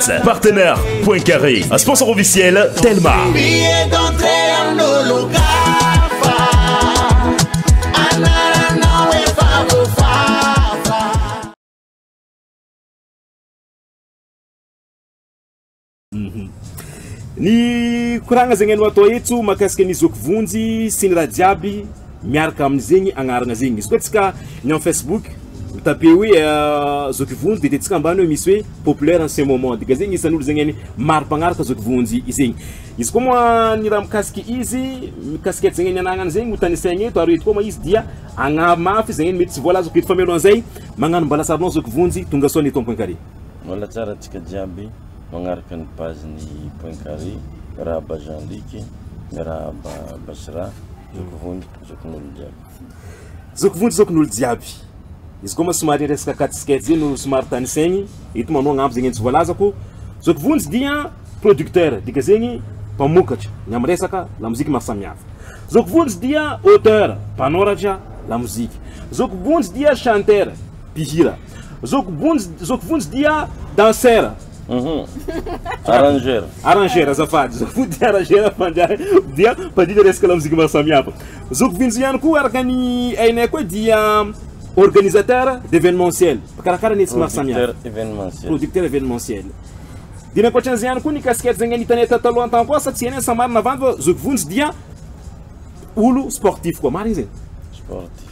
Partenaire Point Carré, un sponsor officiel Telma. Billet d'entrée en Ologafa, Anarano e Favofafa. Ny koragna zegny anao atao etso makasika ny zoky vonjy sy ny raha jiaby. Miaraka amin zegny agnarana zegny izy koa tsika ny am Facebook mi taper hoe zoky vonjy de tsika ambany misy hoe populaire en ce moment dika zegny isan olo zegny maro mpagnaraka zoky vonjy zegny izy koa moa ny raha mikasiky izy mikasiky zegny ny anagnany zegny ho tanisaigny eto ary eto koa moa izy dia agnaro mafy izy zegny mety tsy voalazako eto fa mialohan zay magnano mbala sarinao zoky vonjy tonga soa ny eto am point carré. Mbola tsara tsika jiaby magnaraka ny page ny point carré miarahaba Jean Luc miarahaba Basira. Zoky vonjy zokin'olo jiaby. Zoky vonjy zokin'olo jiaby. Izy koa moa somary resaka quatre sketch io no somary tanisaigny eto manao agnambo zegny tsy voalazako. Zoky vonjy dia producteur dika zegny mpamokatra ny am resaka lamoziky maro samihafa. Zoky vonjy dia auteur mpanoratra lamoziky. Zoky vonjy dia chanteur. Mpihira. Zoky Vonjy, Zoky Vonjy dia danseur. Arrangeur. Arrangeur, azafady. Zoky Vonjy dia arrangeur fa dia dia mpandinika resaka lamoziky maro samihafa. Zoky Vonjy ihany koa araka ny hainay koa dia organisateur d'evenementiel, mpikarakara ny hetsy maro samihafa. Producteur evenementiel. Producteur evenementiel. Dia ny ankoatran'izay ihany koa ny casquette izay nitanay tato taloha tany koa sa tsy hainay sa marina va fa Zoky Vonjy dia olo sportif koa. Marina izay? Sportif.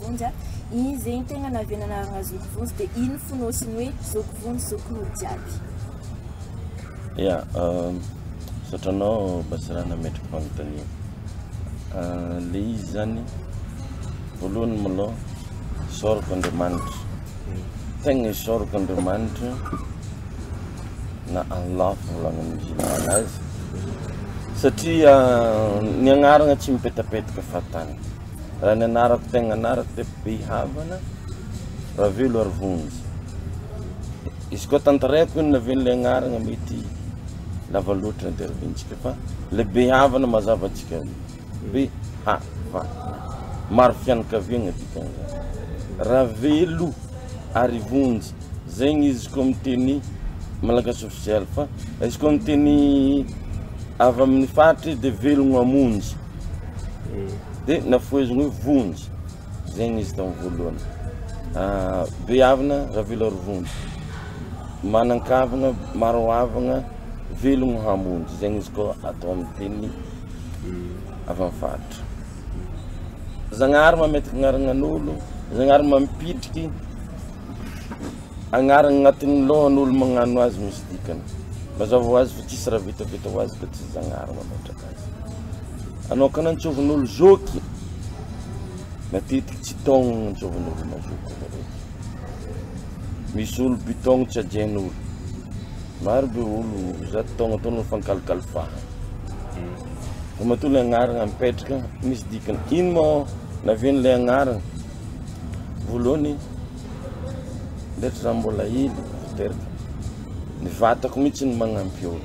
Vonjy a! Iny ze iny tegna naviana anarana zoky vonjy de iny fonosiny hoe zoky vonjy zoky olo jiaby. Ya, misaotra anao Basirah nametraka fanontaniana. Le izy zany voalohany malôha isaorako Andriamanitra. Tegna isaorako Andriamanitra na Allah fivôlagna ny musulmana azy satria ny agnarana tsy mipetapetaka fahatany. Raha ny anarako tegna anarako dia be havana Ravelo ary vonjy. Izy koa tantareko inona ve ilay anarana mety lava loatra ny interview-ntsika fa ilay be havana mazava antsika be havana. Maro fianakaviagna dikan'izany. Ravelo ary vonjy. Zegny izy koa miteny malagasy ofisialy fa izy koa miteny avy amin'ny faritry dia velogno hamonjy. Dia nafoheziny hoe vonjy, izay nisy tao amin'ny voalohany. Behavina Ravelorovonjy, manan-kavina, maro havagna, velogno hamonjy, izay nisy koa atao amin'ny teny avy amin'ny faritra. Zagnahary mametraka agnaranan'olo, Zagnahary mampitriky agnarana agnatin'ny lohan'olo magnano azy misy dikany. Mazava ho azy fa tsisy raha vitavita ho azy ka tsy Zagnahary mametraka azy. Hanokana ny tsovin'olo zoky, matetiky tsy taogno ny tsovin'olo mazoto zareo. Misy olo bitaogno tsy ajain'olo. Maro be olo zato taogno atao ny fankalikalifahana. Fa matoa le agnarana mipetraka, misy dikany. Ino mô naven'ilay agnarana? Voalohany, ndreky za mbola hely vao teraka. Ny vatako mihitsy no magnampy olo.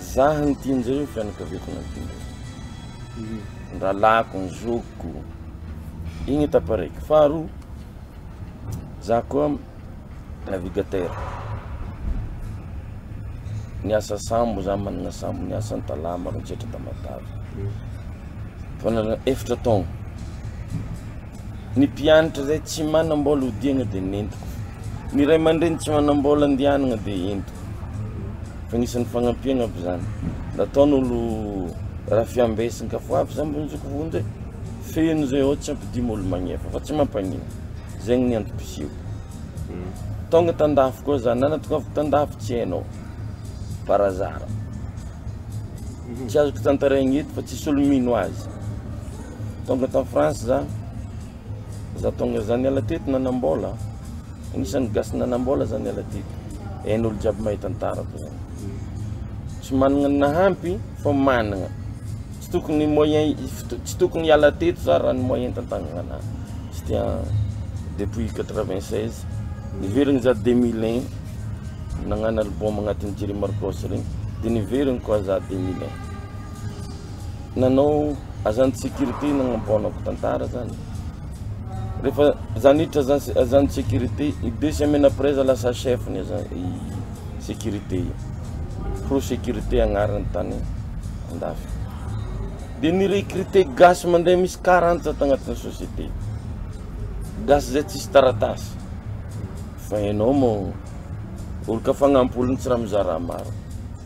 Zah no tian'i Jerry, ny fianakaviako no tian'i Jerry. Ny rahalahiko, ny zokiko. Igny étape araiky. Faharoa, zah koa navigateur. Niasa sambo, zah manana sambo, niasa an-talama, rotsetra, tamatave. Efa nanana efatra taogno. Ny mpianatra izay tsy manam-bola hodiana dia nentiko. Ny ray aman-dreny tsy manam-bola andehanana dia entiko. Fa anisan'ny fagnampiana aby izany. Nataon'olo Rafiambe sy ny Kafoafy izany mba nizoko vonjy hoe feno izay ao tsy ampidimo olo magnefa fa tsy mampagnino. Izay ny antom-pisiako. Hmm. Tonga tan-dafy koa za, nanatongavako tan-dafy tsy hainao. Par hasard. Hmm. Tsy azoko tantarehina eto fa tsisy olo mino azy. Tonga tao France za, za tonga za niala teto nanambola, anisan'ny gasy nanambola za niala teto, hainy olo jiaby mahay tantarako zany, tsy manana ny nahampy fa manana, tsy tokony moyen, tsy tokony hiala teto za raha ny moyen tantagnana, c'était en depuis 96, niverina za 2001, nagnano album agnatiny Jerry Marcos regny, de niverina koa za 2001. nanao agent de sécurité nagnamboanako tantara zany rehefa za niditra agent de sécurité i deux semaines après za lasa chef ny sécurité io pro sécurité agnarany tany andafy de ni recruter gasy mandray misy quarante za tagnatiny société gasy zay tsisy taratasy fa enao moa olo ka fagnampy ologno tsy raha mizara maro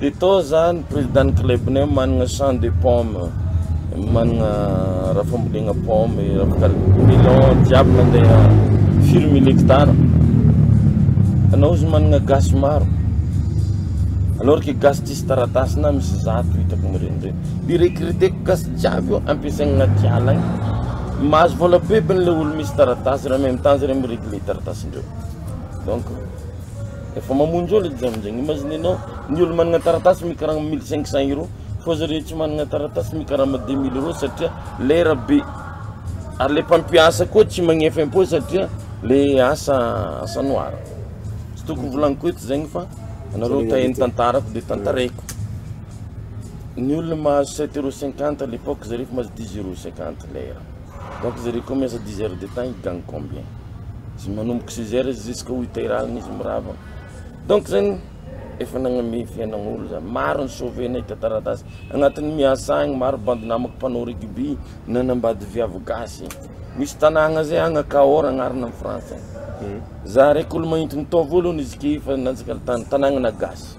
Dia toa zany président club nay manana champ de pomme manana raha fambolena pomme melon jiaby mandeha firy mille hectare anao izy manana gasy maro alors que gasy tsisy taratasy na misy zato hitako mireny reny de recruter gasy jiaby io ampiasaina anaty ala any mahazo vola bebiny le olo misy taratasy raha même temps zay mi régler taratasindreo donc Efa mamonjy olo edy zany zegny, imaginer nao ny olo managna taratasy mikarama mille cinq cents euros fô zareo tsy managna taratasy mikarama deux mille euros satria lera be, ary le mpampiasa koa tsy magnefa impôt satria le asa asa noir, tsy tokony volagniko eto zegny fa anareo te ny tantarako de tantaraiko, ny olona mahazo sept euros cinquante à l'epoque zareo efa mahazo dix euros cinquante lera. Donc zare koa miasa dix heures de temps ils gagnent combien? Zay manomboka six heures jusque huit heures alina izy mirava, donc zany efa nagname fiainan'olo zany, maro ny sauver nahita taratasy, agnatin'ny miasa agny maro bandy namako mpanao rugby nanambady viavy gasy, misy tanàgna zay agny Cahors agnarana am France agny, za raiky olo mahinty nitao voalohany izy ke efa nanjaka tany, tanàgnana gasy.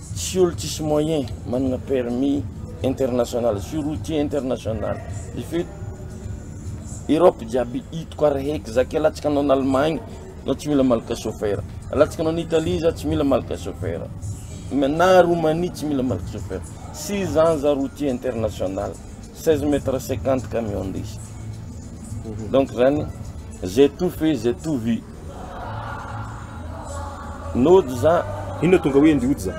Tsy olo tsisy moyen manana permis international sy routier international efa eto Europe jiaby hitako ary heky za ke alatsaka anao any Allemagne za tsy mila malaka chauffeur, alatsaka anao any Italie za tsy mila malaka chauffeur, na Roumanie tsy mila malaka chauffeur, six ans za routier international, seize mètre cinquante camion ndesiko, donc zany j'ai tout fait, j'ai tout vu. Nodza. Inona tonga hoe ndry odza?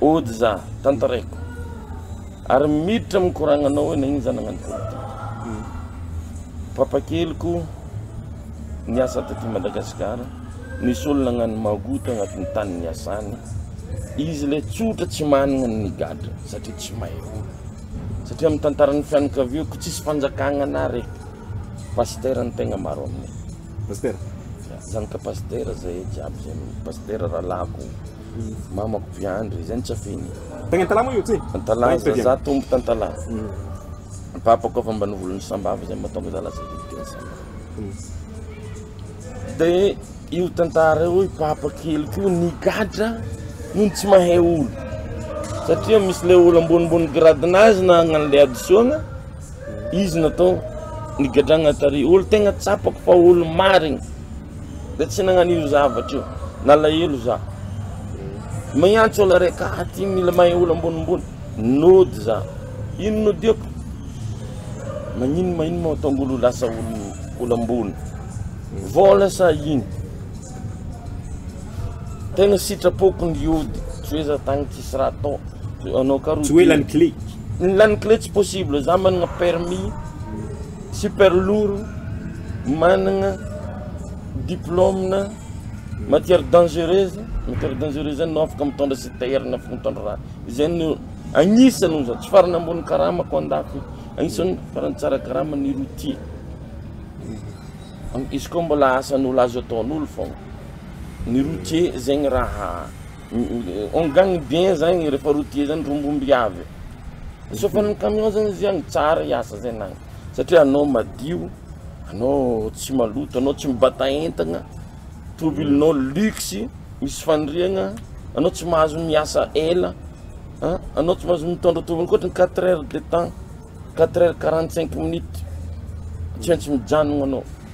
Odza, tantaraiko. Ary miditra amin'ny koragnanao hoe nagnino za nagnano politika. Hmm. Papakeliko niasa taty Madagasikara, nisy olona nagnano magout agnatin'ny tany niasany. Izy le tsotra tsy managna ny gadra satria tsy mahay olo. Satria amin'ny tantaran'ny fianakaviako tsisy fanjakagna na raiky. Pasitera ny tegna maro aminay. Pasitera. Zany ka pasitera zay e jiaby zay no pasitera rahalahiko mamako viandry zay no tsy afiny e. Tagny antalaha moa io ty? Antalaha za za tombo tantalaha ny papako efa mba novolony sambava zay matonga za lasa devote ny sambava de io tantara io i papa keliko io nigadra nony tsy mahay olo satria misy le olo ambonimbony gradinazy nagnano le hadisoagna Izy natao nigadrana tary. Olo tegna tsapako fa olo marigny de tsy nagnano io zavatra io. Nalahelo za. Miantso olo araiky ah ty mila mahay olo ambonimbony. Nody za. Ino nodiako? Magnino magnino moa mahatonga olo lasa olo olo ambony? Vôla sa ino? Tegna sitrapoko niody tsy hoe za tagny tsisy raha atao. Anao ka ro. Tsy ho ela ny kle. Ny lany kle tsy possible, za manana permis, super lourd, manana diplôme matière dangereuse, matière dangereuse zany anao afaka mitondra citerne, afaka mitondra raha, izay no agnisany hoy za, tsy farany ambony karamako andafy io, agnisany farany tsara karama ny routier, izy koa mbola asan'olo azo ataon'olo fôna, ny routier zegny raha. On gagne bien zany rehefa routier zany rombomby avy e, chauffer'ny camion zany izy an, tsara hiasa zay nany satria anao madio, anao tsy maloto, anao tsy mibata entana, tomobilinao luxe, misy faniriagna, anao tsy mahazo miasa ela an, anao tsy mahazo mitondra tomobily ankoatry ny quatre heures de temps, quatre heures quarante cinq minutes tsy maintsy mijanogna anao.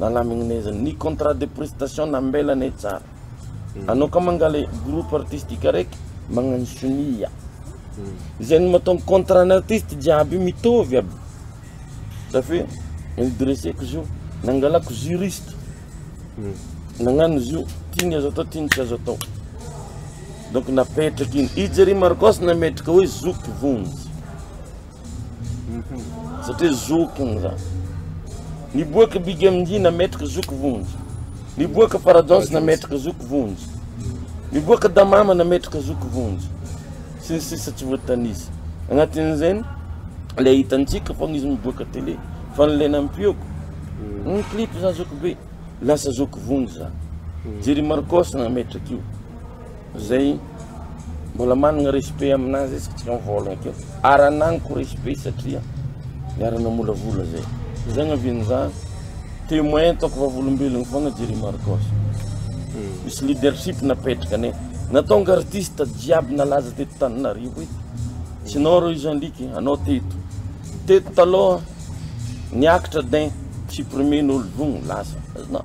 Nalamigny naiza ny contrat de prestation nambela anay tsara anao ka mangala groupe artistique araiky magnano sonia izay no matonga contrat ny artiste jiaby io mitovy aby zaf hoe ny dreseko zio nangalako juriste nagnano izy io ty ny azo atao ty ny tsy azo atao donc napetraky igny i Jerry Marcos nametraka hoe zoky vonjy. Satria zoky ny za. Niboaka Big MD nametraka zoky vonjy. Niboaka Paradance nametraka zoky vonjy. Niboaka Damama nametraka zoky vonjy. Sy ny sisa tsy voatanisa. Agnatin'izay le hitantsika fa izy miboaka télé fa le nampioko. Mm. Ny clip za zoky be lasa zoky vonjy za. Mm. Jerry Marcos nametraka io. Zay mbola managna respect amina zay tsy mivôlagna ke ary anagnako respect satria niara namolavola zay zay agnaviany za temoin ataoko vavolombelogno fôgna Jerry Marcos misy leadership napetraka ne natonga artiste jiaby nalaza teto Tananarivo eto tsy nao reo izy andriky anao teto teto taloha niakatra din tsy premier nolo vogno lasa azonao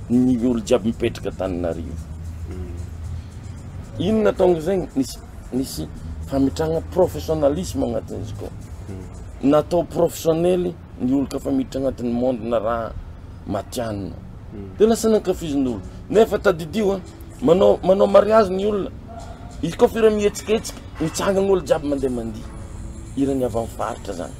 Ny olo jiaby mipetraka Antananarivo inona ataony zegny nisy nisy famitragna professionalisme agnatin'izy ko natao professionnely ny olo kafa miditra agnatin'ny monde na raha matianina de lasa nankafizin'olo nefa tadidio a manao manao mariazy ny olona izy koa fira mihetsiketsika mitsangan'olo jiaby mandeha mandihy ireny avy amin'ny faritra zany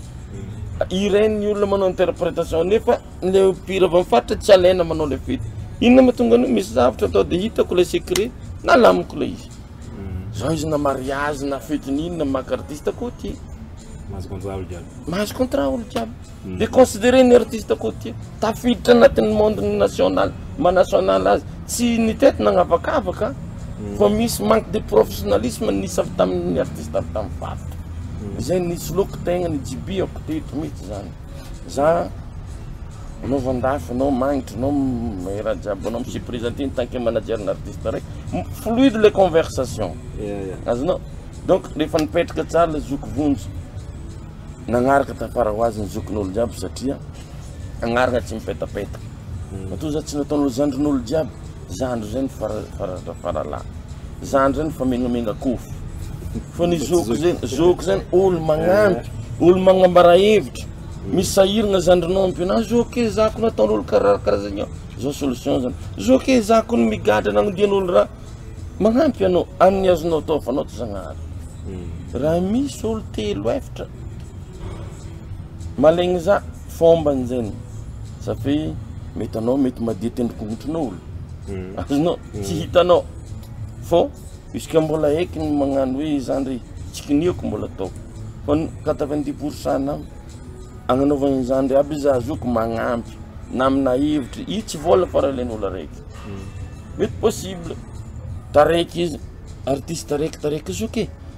ireny ny olona manao interpretation nefa le mpihira avy amin'ny faritra tsy alaina manao le fety inona ma tonga an'io misy zavatra atao de hitako le secret nalamiko le izy hmm. zao izy na mariage na fety n'inona maka artiste côtier mahazo contrat olo jiaby mahazo contrat olo jiaby hmm. de considéré ny artiste côtier tafiditra anatin'ny monde ny national ma national azy tsy ny tety nagnavakavaka hmm. fa misy manque de professionnalisme nisy avy tamin'ny artiste avy tamin'ny faritra izay nisy loko tegna ny jibiako teto mihitsy zany Za no vandafy no magnitry no mihira jiaby no misuprise aty en tant que manager na artiste raiky fluide le conversation azonao donc rehefa nipetraka tsara le zoky vonjy nagnaraka tafara ho azy ny zokin'olo jiaby satria agnarana tsy mipetapetaka matoa za tsy nataon'olo zandrin'olo jiaby Zandry zay ny farazatra faralahy. Zandry zay ny fa mengamenga kofo. Fa ny zoky zay, zoky zay olo magnampy, olo magnambara hevitra. Misy sahiragna zandrinao ampio anao, zoky e za ko nataon'olo karaha karaha zegny aho, zao solution zany. Zoky e za ko migadra nagnodian'olo raha, magnampy anao amin'ny azonao atao fa anao tsy zagnahary. Raha misy olo telo efatra malegny za. Fombany zany satria mety anao mety madio tendrombohitrin'olo azonao tsy hitanao fô juska mbola eky ny magnano hoe izany re tsy kinihiko mbola atao fa ny quatre vingt dix pour cent nam agnanaovagna izany re aby za zoko magnampy na amina hevitry io tsy vôla fa raha ilain'olo araiky mety possible taraiky izy artiste raiky taraiky zoky e.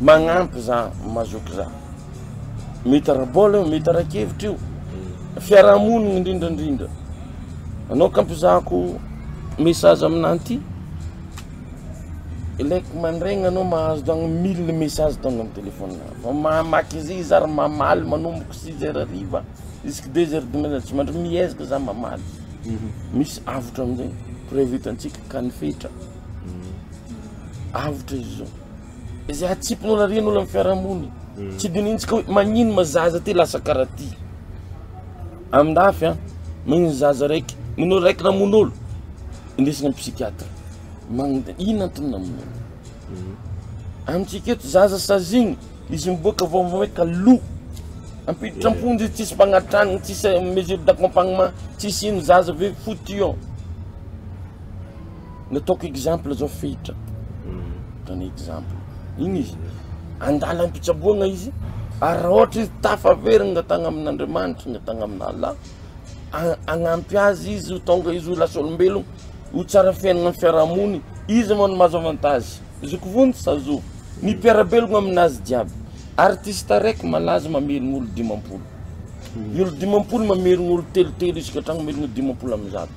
Magnampy za mazoky za. Mety ara-bola io, mety ara-kevitra io, fiarahamonigny indrindra indrindra. Anao ka ampizahako message aminah ty, ilaiko mandraigny anao mahazo dagny mille message tonga am telephone-nah. Vao mamaky izy i za ry mamaly manomboky six heures hariva jusque deux heures du matin, tsy mandry miezaka za mamaly. Misy avotra amizay, preuve hitantsika ka ny fetra. avotra izy zao izay hatsipin'olo ary an'olo amin'ny fiarahamonina mm. tsy dinintsika hoe magnino ma zaza ty lasa karaha ty amin-dafy a magnino zaza raiky magnino olo raiky namono olo indesina amin'ny psychiatre magn- ino antony namono olo mm. amintsika eto zaza sazigny izy miboaka vaovao hoe ka lo ampiditra am-ponjy izy tsisy mpagnatragny tsisy mesure d'accompagnement tsisy ino zaza ve fotion Nataoko exemple zao fehitra ataony exemple iny izy andalam-pitsaboana izy ary raha ohatra izy tafaverina tagny amin'Andriamanitra na tagny amin' Allah hagnampy azy izy ho tonga izy ho lasa olombelogno ho tsara fiaignana amin'ny fiaraha-mony izy moa no mahazo avantage zoky vonjy sa zoky ny mpiara-belogno aminazy jiaby artiste araiky malaza mamelogno olo dimampolo ny olo dimampolo mamelogno olo telotelo isaka tragno mamelogno dimampolo amby zato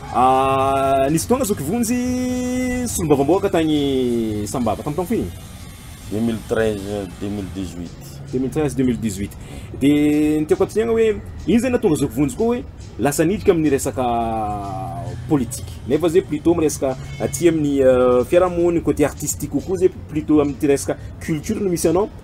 Nisy fotoana zoky vonjy solombavambahoaka tagny Sambava, tamin'ny taona firy? 2013, 2018. 2013, 2018. Dia ny tiako hatoniana hoe ino izay nahatonga zoky vonjy koa hoe lasa niditra amin'ny resaka politika. Nefa zay plutôt amin'ny resaka aty amin'ny fiarahamonina, côté artistique kokoa zay plutôt amin'ity resaka culture no misy anao.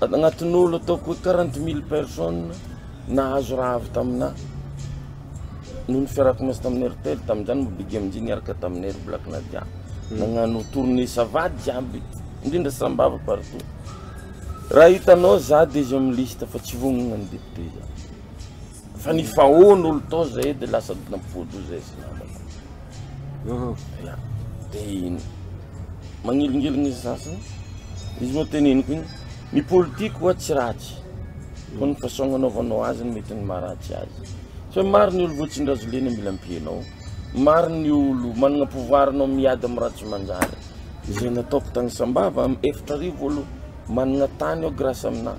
anatin'olo ataoko hoe quarante mille personnes nahazo raha avy taminà noho ny fiarahako miasa tamin'ny Airtel tamin'izany moa Big MJ niaraka taminay ry Black Nadia nagnano tournée ça va jiaby indrindra Sambava partout raha hitanao za de izy amin'ny liste fa tsy vognona ny député za. Fa ny faon olo tao zay de lasa dinam-pody io zay sy namako. Ya. De magnilingilina izy sasany. Izy moa teneniko igny, ny politique ho'a tsy ratsy. Fa ny façon agnanaovanao azy no mety ny maharatsy azy. Tsy hoe maro ny olo voatsin-drazolena mila ampianao, maro ny olo managna pouvoir anao miady am raha tsy manjary. Izay nataoko tagny Sambava am efatra arivo olo managna tany ao grâce aminah.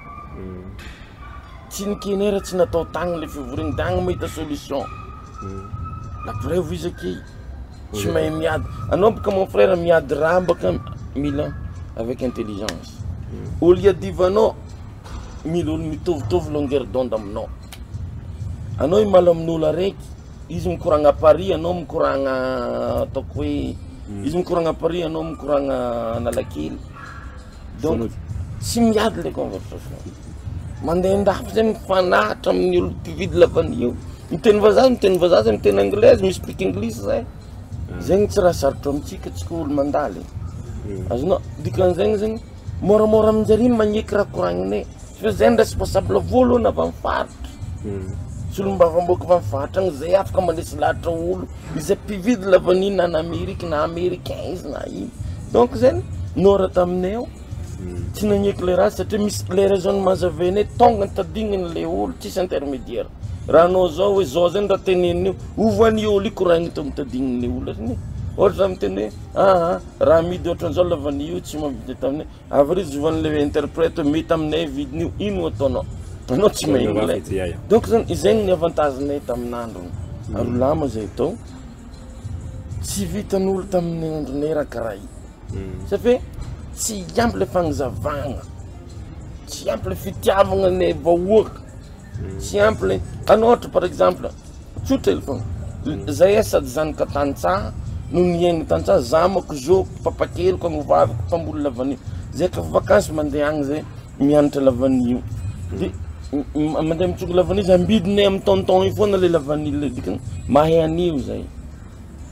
Tsy ny knr tsy natao tagny le fivoriagna tagny mahita solution. La preuve izy aky tsy mahay miady. Anao baka mon frère miady raha baka mila avec intelligence. Olo iadivanao mila olo mitovitovy longueur d'onde aminao. Anao himaly amin'olo araiky, izy mikoragna à Paris anao mikoragna ataoko hoe izy mikoragna à Paris anao mikoragna Analakely. Donc tsy miady le conversation, mandeha an-dafy zay mifanaritra amin'ny olo mpividy lavanio eo, miteny vazaha izy miteny vazaha, zay miteny anglais izy mi speak English zay, zay no tsy raha sarotro amintsika tsika olo mandalo e, azonao, dikan'izegny zegny môramôra amin-jare magneky raha koragninay satria zay no responsable voalohany avy amin'ny faritra, solombavambahoaka avy amin'ny faritra agny zay afaka manesy lahatra olo. izay mpividy lavanila any Amerika na Americain izy na ino donc zegny nora taminay ao tsy nagneky le raha satria misy le raison mahazavainay tonga nitadignany le olo tsisy intermediaire raha anao zao hoe zao zegny raha tenenin'io ovy any olo io koragniny to mitadignan'ny olo zany e, ohatra zah miteny hoe aa raha amidy ohatran'izao lavanila io tsy mahavita taminay. Avril zovany le interprète hoe mety aminay vidiny io ino ataonao anao tsy mahay anglais donc zany izay ny avantage nay tamin'androny ary lama zay atao tsy vitan'olo tamin'ny andronay raha karaha io hmm. sa fe tsy ampy le fagnazavagna tsy ampy le fitiavagna le vahoaka Simple an ohatra par exemple tsotra hely foana zay a sady zanaka tantsaha no mihaino tantsaha za manko zo papa keliko any ho vaviko mpamboly lavanio zay ka vakansy mandeha any zay mianatra lavanio de mandeha mitsoka lavanio zay ambidinay am tonton io foana le lavanio le dikany mahay anio zay.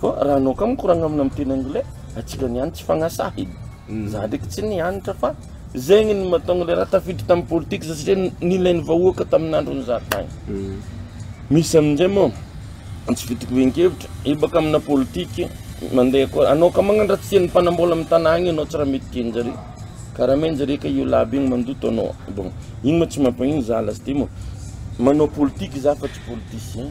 Fa raha anao ka mikoragna amina amin'ny teny anglais, antsika niany tsy fagnasahina. Za ndreky tsy nianatra fa zegny ny mahatônga le raha tafiditra tamin'ny politika za satria nilain'ny vahoaka tamin'andron'ny za tagny. Misy amin'izay mô tsy vita koven-kevitra, io baka amina politika mandeha koa, anao ka magnano raha tsy tian'ny mpanam-bôla amin'ny tagna agny anao tsy raha mety tian-jare, ka raha main jare ka io labo io mandoto anao, bon igny mô tsy mampagnino za lasite mô manao politika za fa tsy politicien.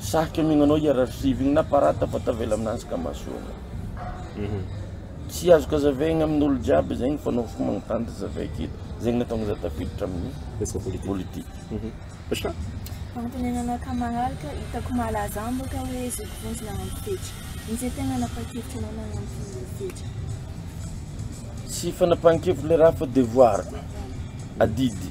Sarotra mihaino anao hier archive igny na parata fa tavela aminazy ka mahasoa anao. Mhm. Tsy azoko azavaigna amin'olo jiaby zegny fa anao fo magnontany de zavay aketo. Zegny nahatonga za tafiditra amin'ny Resaka politika. politika. Mhm. Pacha? Fagnontenenana ka maharaka, hitako malaza aminy boka hoe zoky vonjy nagnano fetra. Inze tegna napahan-kevitry anao nagnano fomba fetra? Tsy fanapahan-kevitry le raha fa devoir, adidy.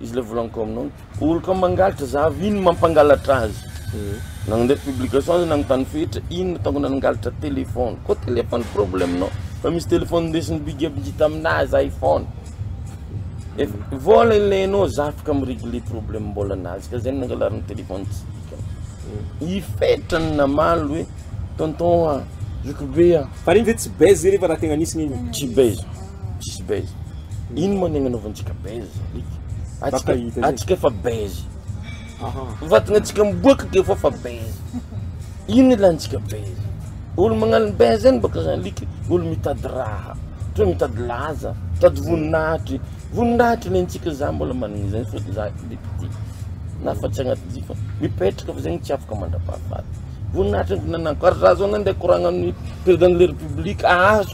Izy le volaniko aminao, olon-ka mangalatra za avy iny mampangalatra azy. Hmm. Nandeha publication azy nanontany fetra, iny ataoko nangalatra téléphone. Ko téléphone problème nao. Fa misy téléphone ndesin'ny big up ngita aminazy iPhone. Et vola ilainao za afaka mi-régler problème mbola nazy ka zay nangalariny téléphone tsy dikany. Hmm. I fetra ny namaly hoe tonton a, zokibe a. Fa regny ve tsy base regny fa raha tegna nisy gn'igny? Tsy base. tsisy base ino moa ny agnanaovantsika base atsika atsika efa base vatagnatsika miboaka ke fa fa base ino ilantsika base olo magnano base zany baka zany alika olo mitady raha toa mitady laza mitady voninahitry voninahitry lentsika za mbola managna izay fo za depute na fa tsy agnaty jiro fa mipetraka fa zegny tsy afaka mandrapahafaty voninahitry ny fananako ary za zao na ndeha koragna amin'ny président de la république ahazo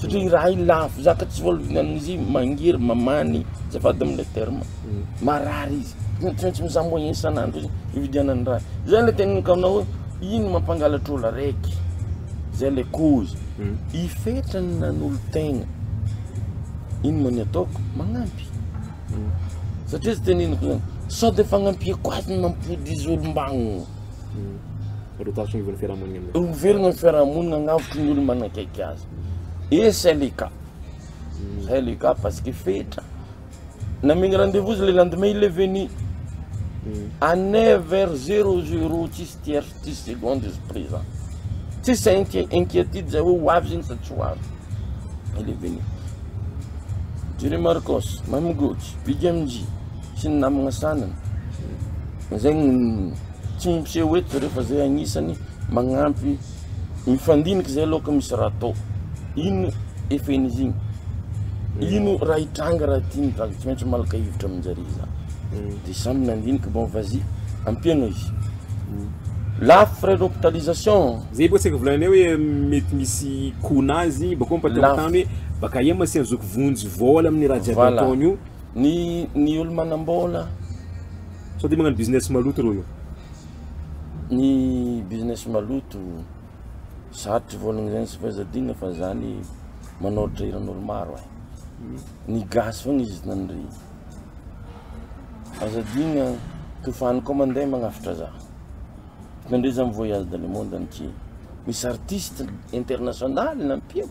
satria i raha i lavo zaka tsy voaloviana amin'izy i mangery mamany azafady amle terme marary izy zany tsy maintsy mizaha moyen isan'andro izy ividianany raha zay le tena nikaonao hoe ino no mampangalatra olo araiky zay le cause i fetrany nanolo-tegna ino moa ny ataoko magnampy satria zay teneniko zany sao de fagnampiako azy no mampody izy olom-bagno Ho velogna ny fiarahamonina agnavotry ny olo manakaiky azy et c'est le cas c'est le cas parce que fetra namegny rendez-vous izy le lendemain il est venu à neuf heures zero zero tsisy tierce tsisy seconde izy présent tsisy inqui- inquiétude zay hoe ho avy zegny sa tsy ho avy il est venu Jerry Marcos, Mamy Goty, Big MJ, sy ny namagna sanany zay no tsy miseho eto zareo fa zay agnisany magnampy mifandinika zay aloha ka misy raha atao ino efen'izy igny ino raha hitranga raha ty ny vaky tsy maintsy malaka hevitra amin-jare za de samy nandinika bon vas y ampiagna izy la frais d'hopitalisation zay bôka tsy aiko volagninay hoe mety misy coût-nazy bakao ampatahotany hoe baka aia masian'ny zoky vonjy vôla amin'ny raha jiaby Voilà. ataony io Ny ny olo manambola. Sao dia magnano business maloto reo io. Ny business maloto, sarotry volagna zany tsy fahazadina fa zany manoratra hiranolo maro eh. Ny gasy fogna izy nandre. Aza adigna tofano koa mandeha magnafatra za. Nandre za mi voyage dans le monde entier. Misy artiste international nampiako.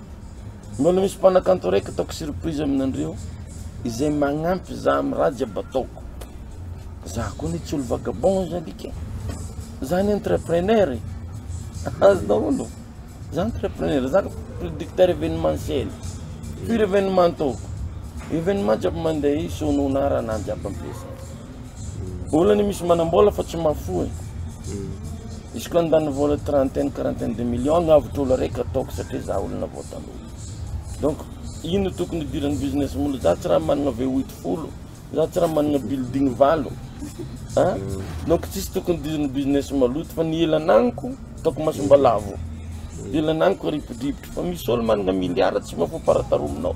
Mbola misy mpanakanto araiky ataoko surprise aminandreo izay magnampy za am raha jiaby ataoko. Za koa anie tsy olo vagabond za ndriky e. Za anie entrepreneur e. Azo daholo. Za entrepreneur, za producteur evenementiel, pur evenement ataoko. Evenement jiaby mandeha io sono na raha na jiaby ampiasaiko. olana misy manambola fa tsy mahafoy izy koa ndany vola trentaine quarantaine de million no avotr' olo araiky ataoko satria za olona vao tanora donc ino tokony hidiran'ny business molo za tsy raha manana vohitra folo za tsy raha manana building valo a donc tsisy tokony hidiran'ny business maloto fa ny ela ananiko ataoko masomba lavo ny ela ananiko aripodripotra fa misy olo manana milliard tsy mahafoy paratarolonao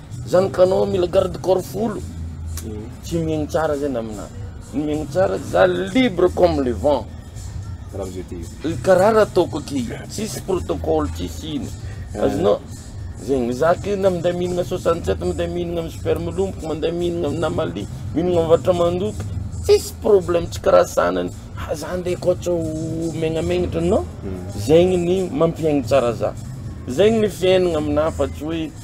Zany ka anao mila garde corps folo tsy mihaino tsara zany aminah ny mihaino tsara za libre comme le vent karaha raha ataoko aky tsisy protocole tsisy ino azonao zegny za aky na minday mihinagna soixante sept minday mihinagna amy super milomboko minday mihinagna amina mali mihinagna amy varotra mandoky tsisy problème tsy karaha sanany ha za nde ko tsy ho megnamegnatra non zegny ny mampihaigny tsara za zegny ny fiaignana aminah fa tsy hoe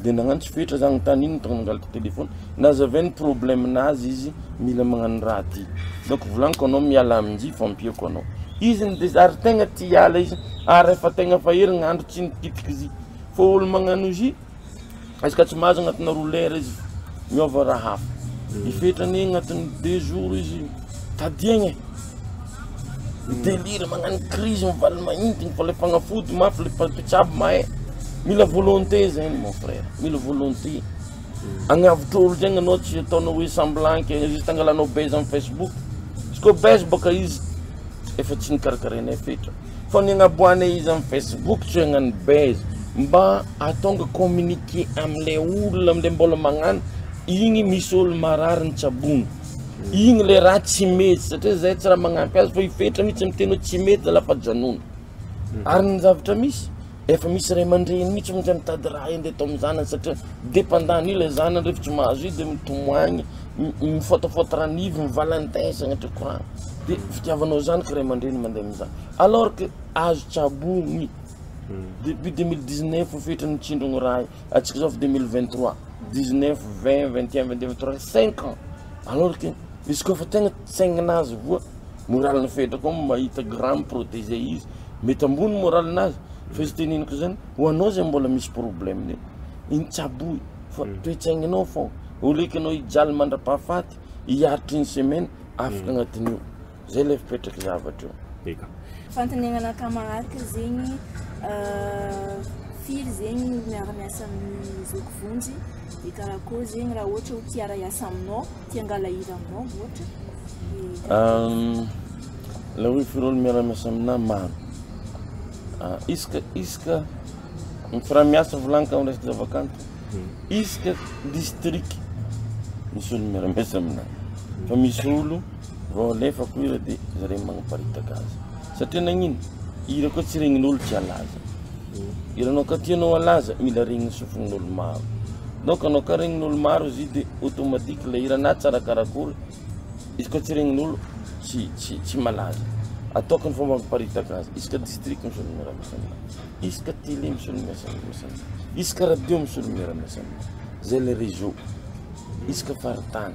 dia nagnano tsy fetra zah tany iny tonga nangalatra telephone nazavainy problème nazy izy mila magnano raha ty donc volagniko anao miala aminjy fa ampiako anao izy ny de ary tegna ty hiala izy ary efa tegna efa herignandro tsy nikitiky izy fa olo magnano izy izy ka tsy mahazo agnatina roa lera izy miova raha hafa ny fetrany agnatiny deux jours izy Tadiagna e! Midelira, magnano crise, mivaly mahintigny fa le fagnafody mafy le mpitsabo mahay, mila volonté zegny mon frère, mila volonté, agnavotra olo zegny anao tsy ataonao hoe semblant ke juste angalanao buzz am facebook, izy koa buzz bôka izy efa tsy nikarakaraignay fetra, fa ny agnaboahagnay izy am facebook tsy hoe agnano buzz, mba atonga communiqué amle olona amle mbola magnano, igny misy olo marary nitsabogno. Iny le raha tsy mety satria zay tsy raha magnampy azy fa i fetra mitsy miteny hoe tsy mety zalahy fa janona mhm. ary ny zavatra misy efa misy ray aman-dreny mitsy montsy mitady raha ende atao amin'ny zanany satria dependant ilay zanany rehefa tsy mahazo izy de mitomoagny mifotofoto ranivy ny valentin sagnatria courant de mhm. fitiavanao zanaky ray aman-dreny mandeha amizany alors que azo tsabogny mhm. depuis deux mille dix neuf fetra nitsindrogny raha Atsika zao efa deux mille vingt trois, dix neuf, vingt, vingt et un, vingt deux, vingt trois, cinq ans alors que izy koa efa tegna tsaignina azy voa moral ny fetra koa mahita grand mi-protege izy mety ambony moral nazy fa izy teneniko zany ho anao zay mbola misy problème ne iny tsy aboy fa mm. toe-tsaigninao fao oleko ianao hijaly mandra-pahafaty hiaritry ny semaine afaka mm. agnatin'io Zay lay fipetrak'i zavatra io. Eka. Fantenenana camarade zegny firy zegny no miara miasa amin'ny zoky vonjy de karakory zegny raha ohatra ho tia hiara hiasa aminao tia hangala hira aminao ohatra la hoe firy olo miara miasa aminah maro ah, iska iska mifiraha miasa volany ka resaka zavakanto hmm. iska district misy olo miara miasa aminah fa misy olo Vao alefako hira de zareo magnaparitaka azy satria nagnino? Hira koa tsy regnin'olo tsy halaza. Hiranao ka tianao halaza mila regnin'ny sofin'olo maro. Donc anao ka regnin'olo maro izy io de automatique ilay hira na tsara karakory izy koa tsy regnin'olo tsy tsy tsy malaza. Ataoko ny fomba amparitaka azy. Isaka district misy olo miara-miasa aminazy. Isaka télé misy olo miasa miasa aminazy. Isaka radio misy olo miara-miasa aminazy. Zay le réseau. Isaka faritany.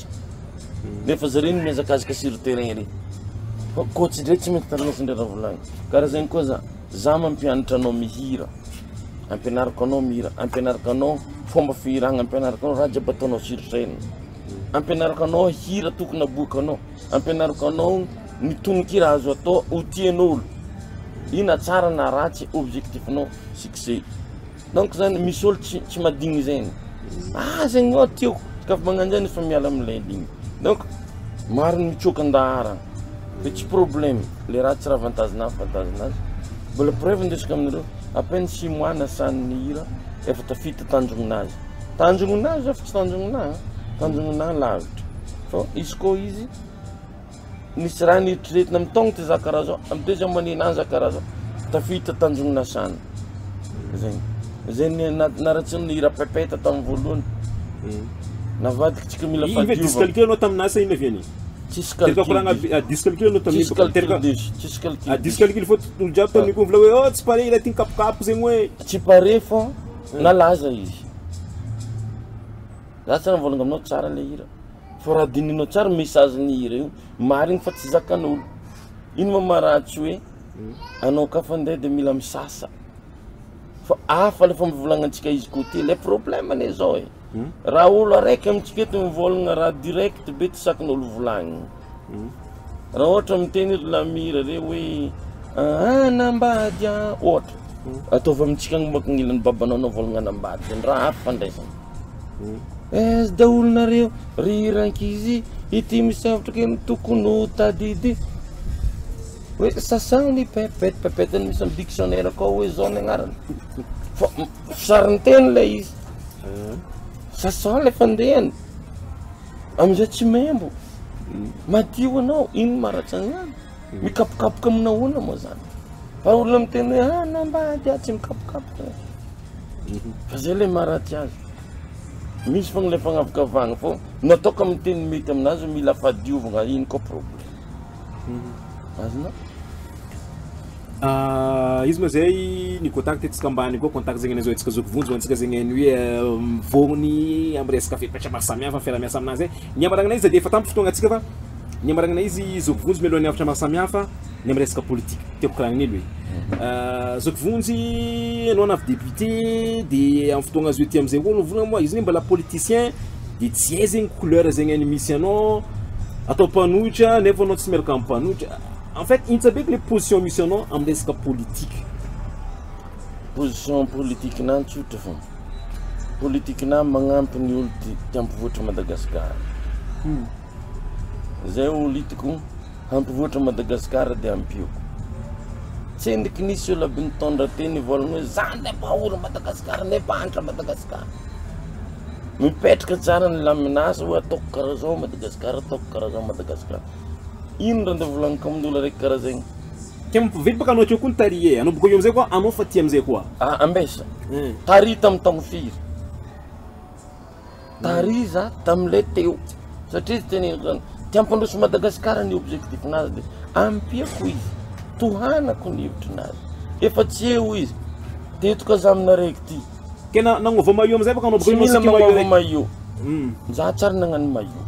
Nefa zareo no mihazakazaka sur terrain ery. Fa coach ndray tsy mety tarana sendra raha volagny. Karaha zegny koa za. Za mampianatra anao mihira. Ampianariko anao mihira, ampianariko anao fomba fihiragna, ampianariko anao raha jiaby ataonao sur scène. Ampianariko anao hira tokony aboakanao, ampianariko anao ny tononkira azo atao ho tian'olo. Io na tsara na ratsy objectif-nao succès. Donc zany misy olo tsy tsy madigny zegny ah zegny ô tiako kaf magnano zany efa miala am lay ligny donc maro ny mitsoaka andaharana de tsy problème le raha tsy raha avantage na avantage nazy mbola preuve ndesiko aminareo à peine six mois nasany ny hira efa tafita tanjogno nazy tanjogno nazy zao fa tsy tanjogno naha tanjogno naha lavitra fô izy kô izy Nisy raha neritreretina amin'ny taogny ty za karaha zao, amin'ny teo za manena azy za karaha zao, tafiditra tanjogny nasana, zegny, zay ny na- naratsiny ny hira pepeta tamin'ny voalohany, navadiky tsika mila Inona ve diso fahadiovana, calcul anao tamin'ny asa inona ve anao? tsisy Teraka calcul koragna diso, be ah, diso calcul anao tamin'iny tsisy baka calcul teraka diso, tsisy calcul ah, diso diso, calcul fô olo jiaby tamin'io koa mivolagna hoe oh tsy pare ilay ty nikapokapoka zegny hoe tsy pare fô nalaza izy, za tsy ary nivôlagna aminao tsara le hira. Fa raha dinihinao tsara message ny hira io, marigny fa tsy zakan'olo. Ino ma ma raha tsy hoe anao ka fa nde de mila misasa. Fa hafa le famivolagnantsika izy ko ty, le problème anie zao e, raha olo araiky amintsika eto mivôlagna raha direct be tsy sakin'olo volagniny. Raha ohatra miteny ry Lamira re hoe aa anambady aa ohatra, ataovy amintsika agny mbô ankagnilan'ny babanao navôlagna anambady zany, raha hafa fandraisana. Aiza daholo nareo ry rankizy ity misafotra kely ny tokony ho tadidy hoe sasagny ny pepette pepette ny misy amin'ny dictionnaire akao hoe zao ny agnarany fa sarinteny ilay izy sasagny ilay fandehany amin'izay tsy membo madio anao ino maratsa an'izany Mikapokapoka amina ahoana moa zany? Fa olona miteny hoe ah nambady ah tsy mikapokapoka eh. Mhm. Fa zay le maharatsy azy. Misy fogna le fagnavakavahana fô nataoko amin'ny teny mety aminazy mila fadiovana iny koa problème. Mhm. Azona? Ah, izy ma zay ny contact antsika ambany koa contact zegny an'izao antsika zoky vonjy antsika zegny ny hoe euh, mivôgny amin'ny resaka fepetra maro samihafa fiarahamiasa aminazy eh. Ny amaragnanay izy de efa tampy fotoagna antsika fa Ny marainina izy zoky vonjy mialohan'ny hafatra maro samihafa ny amin'ny resaka politika. Tiako kirahan'ny elo e. Zoky vonjy ianao na avy député dia amin'ny fotoagna azo ety amin'izay koa mivola moa izy mbola politicien dia tsy hay zegny couleur zegny any misy anao atao mpanohitra nefa anao tsy miaraka amin'ny mpanohitra. En fait hintsa be ilay position misy anao amin'ny resaka politika. Position politikanà tsotra fô. Politikanà magnampy ny olo-tian'ny mpivoatra an'i Madagasikara. Zay ho litiko hampivoatra Madagascar de ampiako tsendriky ny seola by nitondra teny ivolagna hoe zany le mpahory Madagascar le mpahantra Madagascar mipetraka tsara ny laminasa hoe ataoko karaha zao Madagascar ataoko karaha zao Madagascar ino ra ndeha volagniko aminy olo araiky karaha zegny Kay mampividy baka anao akeo koa ny tary e, anao bokeo amizay koa anao fa ty amizay koa. Ah ambesa. Tary tamy tamo firy. Tariza tamin'ilay teo satria izy tena enjana dia hampandroso Madagascar ny objectif nazy dia ampiako izy tohanako ny hevitry nazy efa tsy eo izy dia eto ka za aminareo ity Tena nagnova maillot amizay baka anao baka Tsy mila magnova maillot. Za tsary nagnano maillot.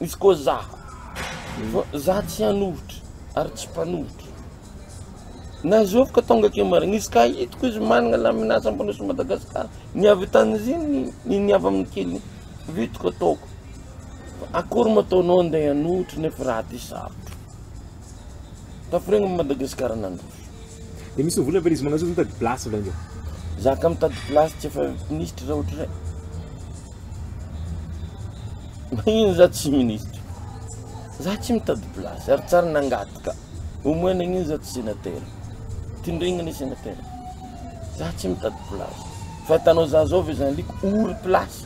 Misy koa za fa za tsy hanohitra ary tsy mpanohitra na zoviko tonga akeo marigny izy ka hitako izy managna laminasa ampandroso Madagascar ny avy tanizigny ny ny ny avy aminy kely vitiko ataoko fa akory ma ataonao andeha hanohitra nefa raha ty sarotro. Tafiregny am Madagascar nandroso. De misy vola ve izy magnazoto mitady place avy agny? Za ka mitady place tsy efa minisitry za ohatrizay. Magnino za tsy minisitry? Za tsy mitady place ary tsary nangady ka. Au moins nagnino za tsy senatera? Tindregny anie senatera. Za tsy mitady place. Fa hitanao za zao ve zany liko ory place.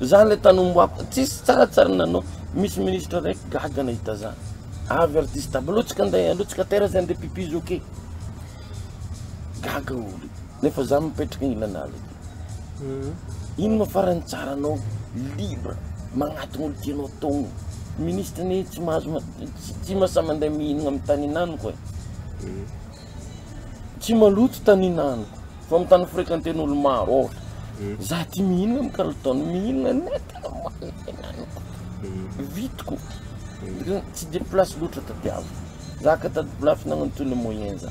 Zany le tany omboapo tsisy tsara tsara nanao misy ministre raiky gaga nahita zany avy artiste aby alotsika ndray alotsika tera zany de pipi zoky gaga olo nefa za mipetraka ilana ala aty ino ma farany tsara anao libre magnatogno olo tianao atogno ministre anie tsy mahazo tsy mahasahy mande mihinagna amy tany hinanoko e. tsy maloto tanin'aniko fa amin'ny tany frekanten'olo maro ohatra hmm. za ty mihinana amin'ny kalitao ny mihinana na tena manana aniko hmm. vitiko hmm. tsy de place loatra tadiavo za ka tady place nagnano toy le moyen za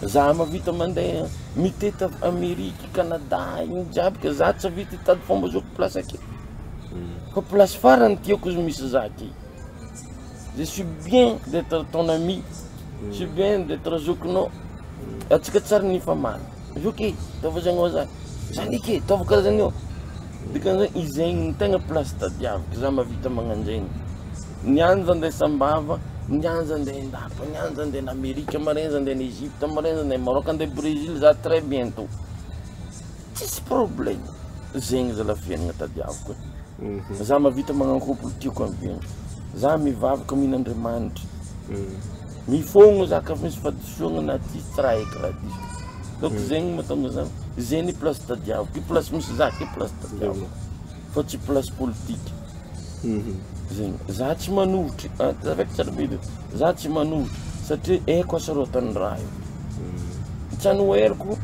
za mavita mandeha miteta amerika canada igny jiaby ka za tsy avita tady fomba zao place ake fa place farany tiako izy misy za ty Je suis bien d'etre ton ami, je suis bien d'etre zokinao, antsika tsary nifamaly, zoky e, ataovy zany hoa zany, zany eky e, ataovy karaha zany hoa, dikan'izany hoe izay no tegna place tadiaviko za mahavita magnanjegny, niany za ndeha Sambava, niany za ndeha Indapa, niany za ndeha any Amerika, maraina za ndeha any Egypte, maraina za ndeha Maroc, andeha Brésil za très bientot. Tsisy problème zegny zalah fiainagna tadiaviko e. Za mavita magnano couple tiako ampiagna. Za mivavaka mino Andriamanitra. Mifogno za ka fa misy fahadisoagna na ty tsy raha eky raha diso. Donc zegny mahatonga za zegny place tadiaviko, place misy za ty place tadiaviko. fa tsy place politique zegny, za tsy manohitry za tsy manohitry satria haiko hasarotiny raha io, tsy anoheriko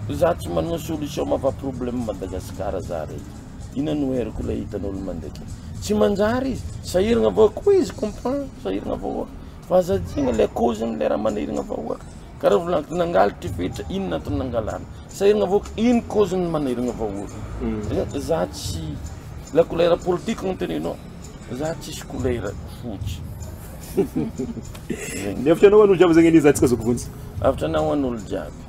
za tsy manana solution maha problème an'i Madagasikara za raiky, ino anoheriko ilay hitan'olo mandeha akeo, tsy manjary izy, sahirana vahoaka, oui je comprends sahirana vahoaka, fa aza adino le cause-nle raha manahirana vahoaka. Ka raha volagny nangaly ty fetra inona antony nangalany? Sa irigna vahoaka ino cause ny manirigna vahoaka? Za tsy la couleur politique no tenenao za tsisy couleur fotsy. Ny hevitra anao an'olo jiaby zany anie za tsika zoky vonjy. Hevitra anao an'olo jiaby.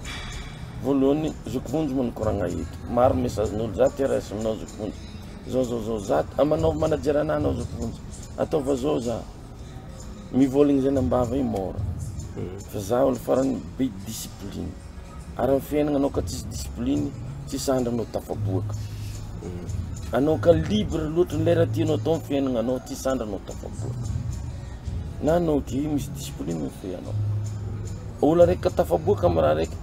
Voalohany zoky vonjy moa nikoragna eto. Maro message n'olo za te raisy aminao zoky vonjy. Zao zao zao za manaova manajer anah anao zoky vonjy. Ataova zao za. Mivolagna zany am-bava io mora fa za olo farany be discipline ary am fiaignana anao ka tsisy discipline tsisy andro anao tafaboaka anao ka libre loatra le raha tianao atao am fiaignana anao tsisy andro anao tafaboaka na anao ke misy discipline fe anao olo araiky ka tafaboaka am raha raiky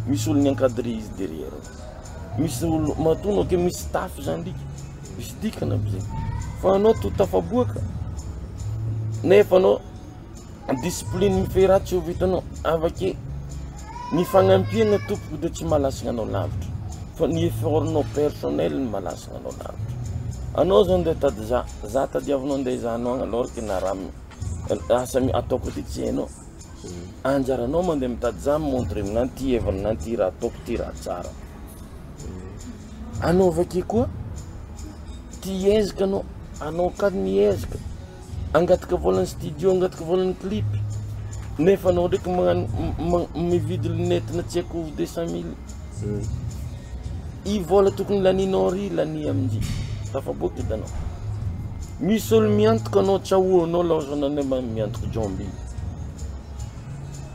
misy olo mi-encadre izy derrière ao misy olo matoa anao ke misy staff zany ndriky. Misy dikany aby zay fa anao to tafaboaka nefa anao discipline mifehy raha tsy ho vitanao avake ny fagnampiana tompoko de tsy mahalasina anao lavitra fa ny effort nao personnel no mahalasina anao lavitra anao zany de tady za za tadiavinao ndeha hizahanao agny alors que na raha asa ataoko aty tsy hainao anjaranao mandeha mitady za mi-montre aminah ty heviny na ty raha ataoko ty raha tsara Anao avake koa ty ezaka anao, anao ka ny ezaka, angataka volan'ny studio, angataka volan'ny clip, nefa anao ndraiky magnano mividy lunette na tsy haiko deux cent mille, hmm. i vola tokony laninao ry lania amin'izay, tafaboaka hitanao, misy olo miantoka anao, tsy ahoanao laozana anao miantoka jomby.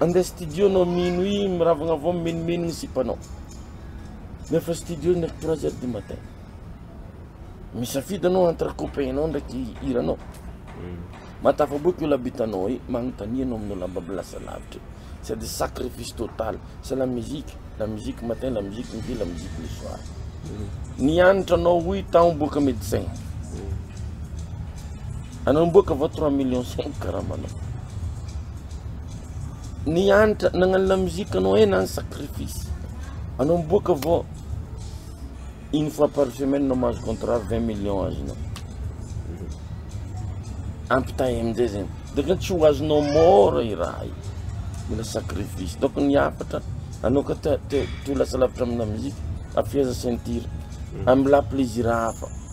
Andeha studio anao mino i miravagna avao mimenimeno ny sipanao nefa studio ny trois heures du matin misafidy anao entre copain nao ndraiky hiranao hmm. matafaboaky io labitanao e magnontania anao aminao lamba milasa lavitra sady sacrifice total c'est la musique la musique matin la musique midi la musique le soir hmm. nianatra anao hoy taho boaka médecin hmm. Anao miboaka vao trois millions cinq karamanao. Ny hanitra nagnano la musique anao eh na ny sacrifice. Anao miboaka vao une fois par semaine anao mahazo contrat vingt millions azonao. Ampitahay amin'izay zegny. Donc tsy ho azonao môra i raha io. Mila sacrifice. Donc ny hafatra anao ka te te te ho lasa lavitra amina musique, afehezo ceinture. Amelà plaisir hafa.